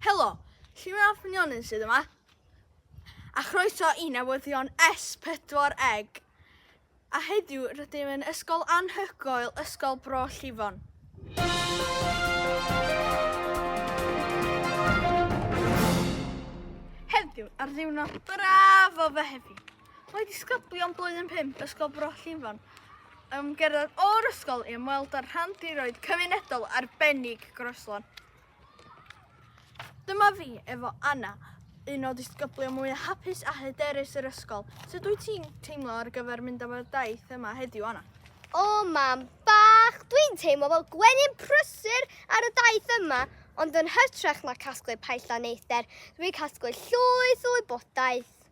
Helo, Lliwio'r Ffynionyn sydd yma, a chroeso i newyddion S4 Eg. A heddiw rydym yn ysgol anhygoel, Ysgol Bro Llifon. Heddiw, ar ddiwrnod braf o Fehefin, Mae disgyblion blwyddyn 5 Ysgol Bro Llifon yn gerdded o'r ysgol i ymweld â'r rhan diroedd cymunedol arbennig Groeslon. Dyma fi efo Anna, un o disgyblion mwy hapus a hyderus yr ysgol. Sut wyt ti'n teimlo ar gyfer mynd am y daith yma heddiw, Anna? O, mam bach, dwi'n teimlo fel gwenyn prysur ar y daith yma, ond yn hytrach na casglu paella neithdder, dwi'n casglu llwyth o wybodaeth.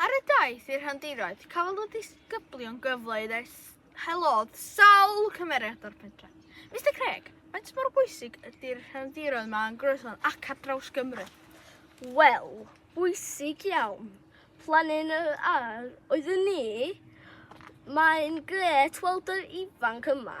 Ar y daith i'r rhandiroedd, cafodd y disgyblion gyfle i helodd sawl cymeriad o'r pentre. Mr Craig, faint mor bwysig ydy'r rhandiroedd yma yn Groeslon ac ar draws Gymru? Wel, bwysig iawn. Planyn yr ar oedd yn ni, mae'n gret weld yr ifanc yma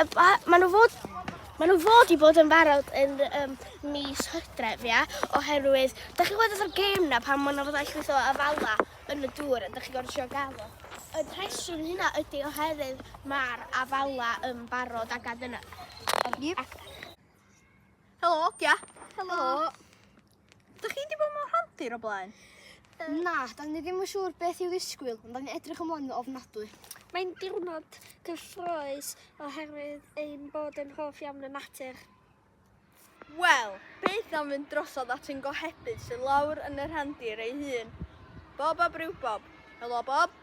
Maen nhw fod Maen nhw fod i bod yn barod yn um, mis hydref, ia, oherwydd, da chi'n gweld o'r gêm na pan maen nhw fod allwys o afala yn y dŵr, a da chi'n gorfod siarad gael o. Y rheswm hynna ydy oherwydd mae'r afala yn barod ac adyn nhw. Helo, Gia. Helo. Helo. Dych chi wedi bod mewn rhandir o blaen? Na, da ni ddim yn siŵr beth i'w ddisgwyl, ond da ni'n edrych ymlaen yn ofnadwy. Mae'n diwrnod cyffroes oherwydd ein bod yn hoff iawn y natur. Wel, beth am fynd drosodd at yn gohebydd sy'n lawr yn y rhandir ei hun? Bob ab ryw bob. Helo, Bob.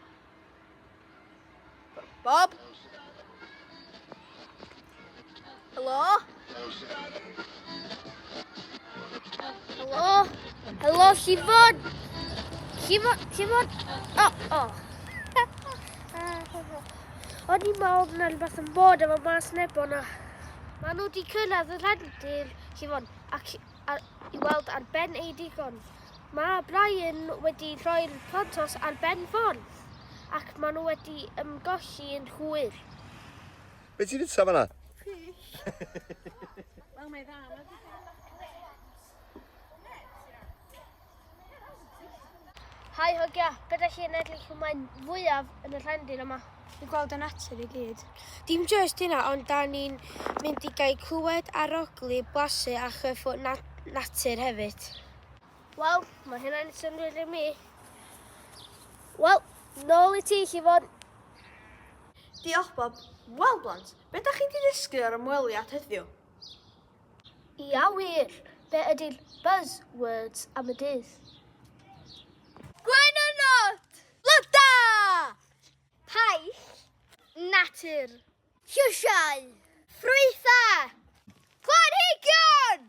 Bob? Helo? Helo? Helo, Llifod? Llifod? Llifod? O, o. O'n i'n meddwl na rhywbeth yn bod efo mas neb o'na. Mae nhw wedi cyrraedd y rhendir, Llifod, ac i weld ar ben ei digon. Mae Brian wedi rhoi'r plantos ar ben ffordd ac maen nhw wedi ymgolli yn hwyr. Be ti'n fita fanna? Fish. Wel, mae dda, mae dda. Hai hogia, beth ydych chi'n edrych chi'n mae'n fwyaf yn y rhendyn yma? Dwi'n gweld y natur i gyd. Dim just hynna, ond da ni'n mynd i gael clywed arogli, blasu a chyffwrdd nat natur hefyd. Wel, mae hynna'n syndod i mi. Wel, nôl i ti, Llifon. Diolch, Bob. Wel, blant, be da chi wedi ddysgu o'r ymweliad heddiw? Ia wir, be ydy'r buzzwords am y dydd? Gwen y not! Loda! Paill! Natur! Llysiau! Ffrwythau! Planhigion!